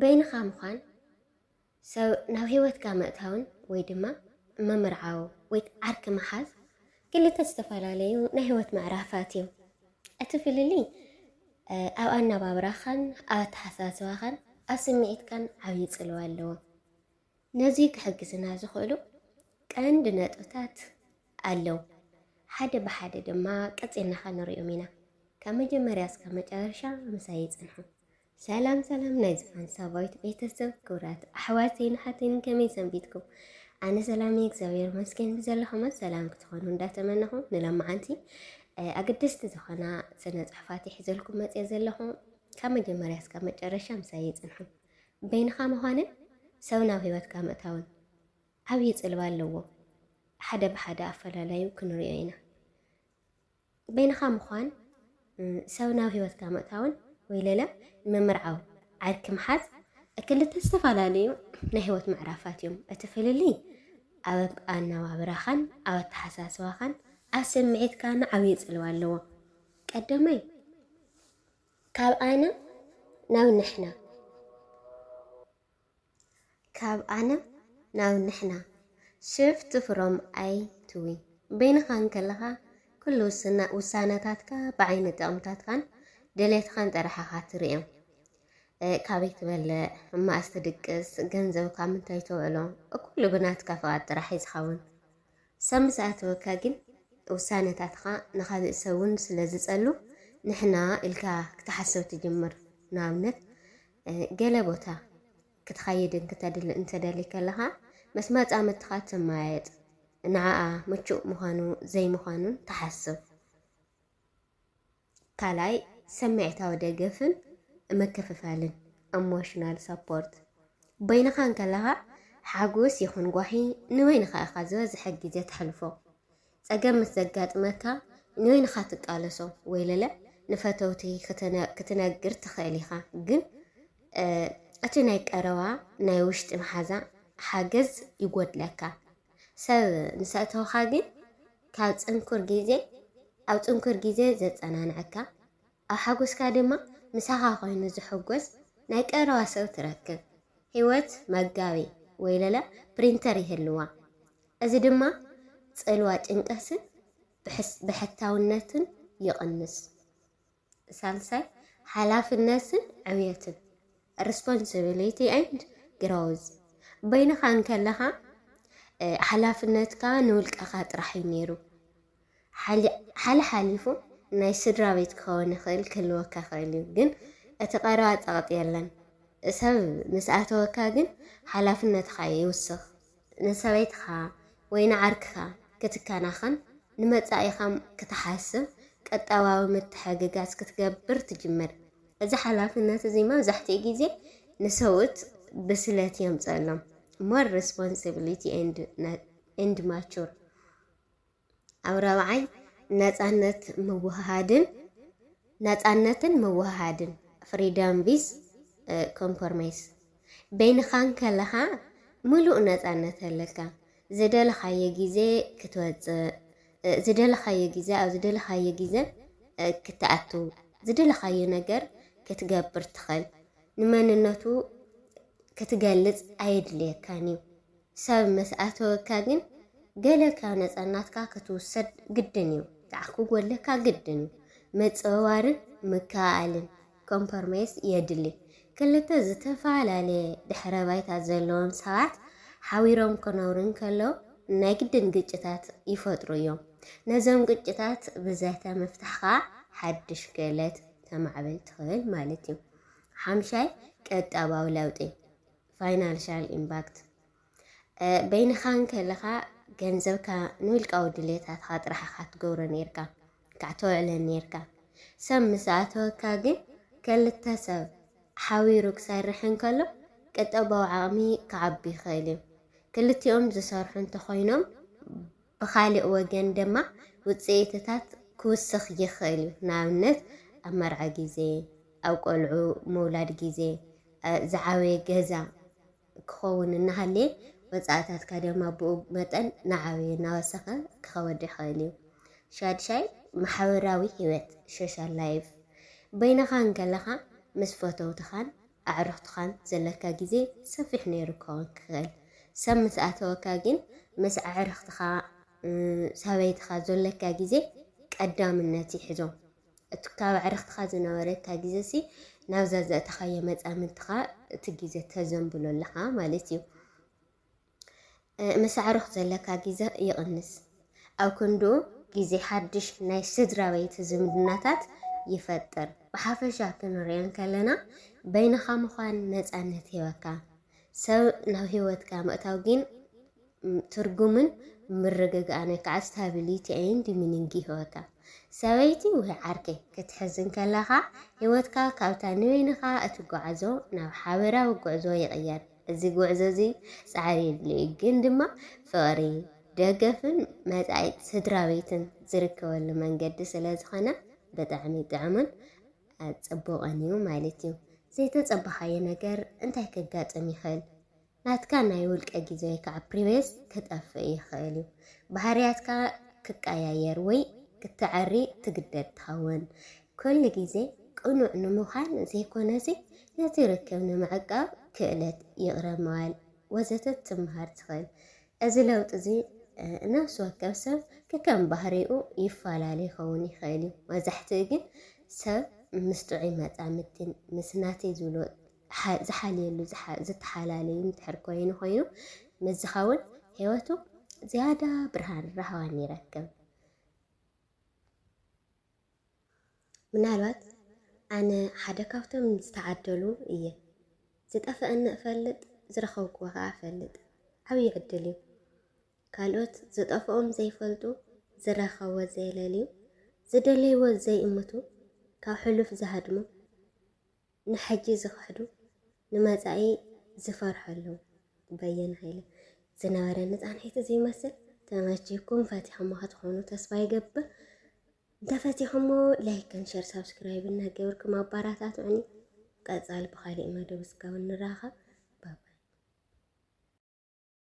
በይንኻ ምዃን ሰብ ናብ ሂወትካ ምእታውን ወይ ድማ ምምርዓው ወይ ዓርኪ ምሓዝ ክልተ ዝተፈላለዩ ናይ ሂወት ምዕራፋት እዮም። እቲ ፍልልይ ኣብ ኣነባብራኻን ኣብ ኣተሓሳስባኻን ኣብ ስምዒትካን ዓብዪ ጽልዋ ኣለዎ። ነዚ ክሕግዝና ዝኽእሉ ቀንዲ ነጥብታት ኣለው። ሓደ ብሓደ ድማ ቀጺልና ከንሪኦም ኢና። ካብ መጀመርያ እስካብ መጨረሻ ምሳይ ጽንሑ። ሰላም ሰላም ናይ ዝፋን ሳባዊት ቤተሰብ ክብራት ኣሕዋተይን ኣሓተይን ከመይ ሰንቢትኩም? ኣነ ሰላም እግዚኣብሔር መስገን ብዘለኹመ ሰላም ክትኾኑ እንዳተመነኹ ንለማዓንቲ ኣገደስቲ ዝኾና ስነ ጽሑፋት ይሕዘልኩም መጽየ ዘለኹ ካብ መጀመርያ እስካብ መጨረሻ ምሳይ ይጽንሑ። በይንኻ ምዃንን ሰብ ናብ ህይወትካ ምእታውን ዓብዪ ጽልዋ ኣለዎም። ሓደ ብሓደ ኣፈላላዩ ክንሪኦ ኢና። በይንኻ ምዃን ሰብ ናብ ህይወትካ ምእታውን ወይ ለለ ምምርዓውን ዓርኪ ምሓዝ ክልተ ዝተፈላለዩ ናይ ህይወት ምዕራፋት እዮም። እቲ ፍልልይ ኣብ ኣነባብራኻን ኣብ ኣተሓሳስባኻን ኣብ ስምዒትካን ዓብዪ ጽልዋ ኣለዎ። ቀዳማይ ካብ ኣነ ናብ ንሕና ካብ ኣነ ናብ ንሕና ሽፍት ፍሮም ኣይ ቱ ዊ በይንኻ እንከለኻ ኩሉ ውሳነታትካ ብዓይኒ ጥቕምታትካን ድሌትኻን ጥራሕ ኢኻ ትርእዮ። ካበይ ትበልዕ እማእስ ትድቅስ ገንዘብካ ምንታይ ተውዕሎ ኩሉ ብናትካ ፍቓድ ጥራሕ እዩ ዝኸውን። ሰብ ምስ ኣተወካ ግን ውሳነታትኻ ንኻልእ ሰብ እውን ስለ ዝጸሉ ንሕና ኢልካ ክትሓስብ ትጅምር። ንኣብነት ገለ ቦታ ክትኸይድን ክተድል እንተደሊ ከለኻ ምስ መጻምድትኻ ትመያየጥ ንዓኣ ምቹእ ምዃኑ ዘይምዃኑን ትሓስብ። ካልኣይ ሰምዒታዊ ደገፍን ምክፍፋልን፣ Emotional Support፣ በይንኻ እንከለኻ ሓጎስ ይኹን ጓሂ ንበይንኻ ኢኻ ዝበዝሐ ግዜ ተሕልፎ። ጸገም ምስ ዘጋጥመካ ንበይንኻ ትቃለሶ ወይለለ ንፈተውቲ ክትነግር ትኽእል ኢኻ ግን እቲ ናይ ቀረባ ናይ ውሽጢ መሓዛ ሓገዝ ይጎድለካ። ሰብ ምስ ኣእተውካ ግን ካብ ጽንኩር ግዜ ኣብ ጽንኩር ግዜ ዘጸናንዐካ፣ ኣብ ሓጎስካ ድማ ምሳኻ ኮይኑ ዝሕጎስ ናይ ቀረባ ሰብ ትረክብ። ህይወት መጋቤ ወይለለ ፕሪንተር ይህልዋ። እዚ ድማ ጽልዋ ጭንቀትን ብሕታውነትን ይቕንስ። ሳልሳይ፣ ሓላፍነትን ዕብየትን፣ Responsibility and Growth፣ በይንኻ እንከለኻ ሓላፍነትካ ንውልቀኻ ጥራሕ እዩ ነይሩ። ሓለሓሊፉ ናይ ስድራ ቤት ክኸውን ይኽእል ክህልወካ ይኽእል እዩ፣ ግን እቲ ቀረባ ጸቕጢ የለን። ሰብ ምስ ኣተወካ ግን ሓላፍነትኻ ይውስኽ። ንሰበይትኻ ወይ ንዓርክኻ ክትከናኸን፣ ንመጻኢኻ ክትሓስብ፣ ቀጠባዊ ምትሕግጋዝ ክትገብር ትጅምር። እዚ ሓላፍነት እዚ መብዛሕትኡ ግዜ ንሰብኡት ብስለት የምጽኣሎም፣ more responsibility and mature። ኣብ ራብዓይ ነፃነት ምውህሃድን ነፃነትን ምውህሃድን ፍሪደም ቪዝ ኮምፖርሜስ በይንኻን ከለኻ ምሉእ ነፃነት ኣለካ ዝደለኻዮ ግዜ ክትወፅእ ዝደለኻዮ ግዜ ኣብ ዝደለኻዮ ግዜ ክትኣቱ ዝደለኻዮ ነገር ክትገብር ትኽእል ንመንነቱ ክትገልፅ ኣየድልየካን እዩ ሰብ ምስ ኣተወካ ግን ገለ ካብ ነጸናትካ ክትውሰድ ግድን እዩ ካዓ ክጎለካ ግድን እዩ ምጽውዋርን ምክእኣልን ኮምፐርሜስ የድሊ ክልተ ዝተፋላለየ ድሕረ ባይታ ዘለዎም ሰባት ሓቢሮም ክነብሩ እንከለው ናይ ግድን ግጭታት ይፈጥሩ እዮም ነዞም ግጭታት ብዘተ ምፍታሕ ካዓ ሓድሽ ክእለት ተማዕብል ትክእል ማለት እዩ ሓምሻይ ቀጣባዊ ለውጢ ፋይናንሻል ኢምባክት፣ በይንኻ እንከለኻ ገንዘብካ ንውልቃዊ ድሌታትኻ ጥራሕ ኢኻ ትገብሮ ኔርካ፣ እንካዕ ተውዕለን ኔርካ። ሰብ ምስ ኣተወካ ግን ከልተ ሰብ ሓቢሩ ክሰርሕ እንከሎ ቅጠባዊ ዓቕሚ ክዓቢ ይኽእል እዩ። ክልቲኦም ዝሰርሑ እንተኾይኖም ብኻሊእ ወገን ደማ ውጽኢትታት ክውስኽ ይኽእል እዩ፣ ንኣብነት ኣብ መርዓ ግዜ፣ ኣብ ቆልዑ ምውላድ ግዜ፣ ዝዓበየ ገዛ ክኸውን እናሃለየ ወጻእታትካ ደማ ብኡ መጠን ናዓበየ እናወሰኸ ክኸወድ ይኽእል እዩ። ሻድሻይ ማሕበራዊ ህይወት፣ ሾሻል ላይፍ፣ በይንኻ እንከለኻ ምስ ፈተውትኻን ኣዕሩኽትኻን ዘለካ ግዜ ሰፊሕ ነይሩ ክኸውን ክኽእል። ሰብ ምስ ኣተወካ ግን ምስ ኣዕርኽትኻ፣ ሰበይትኻ ዘለካ ግዜ ቀዳምነት ይሕዞ። እቲ ካብ ኣዕርኽትኻ ዝነበረካ ግዜሲ ናብዛ ዘእተኻዮ መጻምድትኻ እቲ ግዜ ተዘንብሎ ኣለኻ ማለት እዩ። ምስ ኣዕሩኽ ዘለካ ግዘ ይቕንስ፣ ኣብ ክንድኡ ግዜ ሓድሽ ናይ ስድራቤት ዝምድናታት ይፈጥር። ብሓፈሻ ክንርእዮ እንከለና በይንኻ ምዃን ነጻነት ይህበካ፣ ሰብ ናብ ህይወትካ ምእታው ግን ትርጉምን ምርግጋእን ወይ ከዓ ስታቢሊቲ ኤንድ ሚኒንግ ይህበካ። ሰበይቲ ወይ ዓርኪ ክትሕዝ እንከለኻ ህይወትካ ካብታ ንበይንኻ እትጓዓዞ ናብ ሓበራዊ ጉዕዞ ይቕየር። እዚ ጉዕዞ እዚ ጻዕሪ የድልዮ እዩ፣ ግን ድማ ፍቕሪ፣ ደገፍን መጻኢ ስድራቤትን ዝርከበሉ መንገዲ ስለ ዝኾነ ብጣዕሚ ጥዑምን ጽቡቕን እዩ ማለት እዩ። ዘይተጸበኻዮ ነገር እንታይ ከጋጥም ይኽእል? ናትካ ናይ ውልቀ ግዜ ወይ ከዓ ፕሪቬስ ክጠፍእ ይኽእል እዩ። ባህርያትካ ክቀያየር ወይ ክተዐሪ ትግደድ ትኸውን። ኩሉ ግዜ ቅኑዕ ንምዃን ዘይኮነሲ ነቲ ርክብ ንምዕቃብ ክእለት ይቕረ ምባል ወዘተ ትምሃር ትኽእል። እዚ ለውጢ እዚ ነፍሲ ወከፍ ሰብ ከከም ባህሪኡ ይፈላለ ይኸውን ይኽእል እዩ። መብዛሕትኡ ግን ሰብ ምስ ጥዑይ መጻምድቲን ምስ ናተይ ዝብሎ ዝሓልየሉ ዝተሓላለዩ እንድሕር ኮይኑ ኮይኑ ምስ ዝኸውን ህይወቱ ዝያዳ ብርሃን ራህዋን ይረክብ። ምናልባት ኣነ ሓደ ካብቶም ዝተዓደሉ እየ። ዝጠፈኣኒ እፈልጥ፣ ዝረኸብኩዎ ከኣ እፈልጥ። ዓብዪ ዕድል እዩ። ካልኦት ዝጠፍኦም ዘይፈልጡ፣ ዝረኸብዎ ዘየለልዩ፣ ዝደለይዎ ዘይእምቱ፣ ካብ ሕሉፍ ዝሃድሙ፣ ንሕጂ ዝኸሕዱ ንመጻኢ ዝፈርሑ ኣለዉ። በየነ ሃይለ ዝነበረኒ ጻንሒት እዚ ይመስል። ተመቺኩም ፈቲሕሞ ክትኾኑ ተስፋ ይገብር። እንተፈቲሕሞ ላይክን ሸር ሳብስክራይብ እናገበርኩም ኣባራታትዑኒ። ቀጻሊ ብኻሊእ መደብ እስካብ ንራኸብ ባባይ።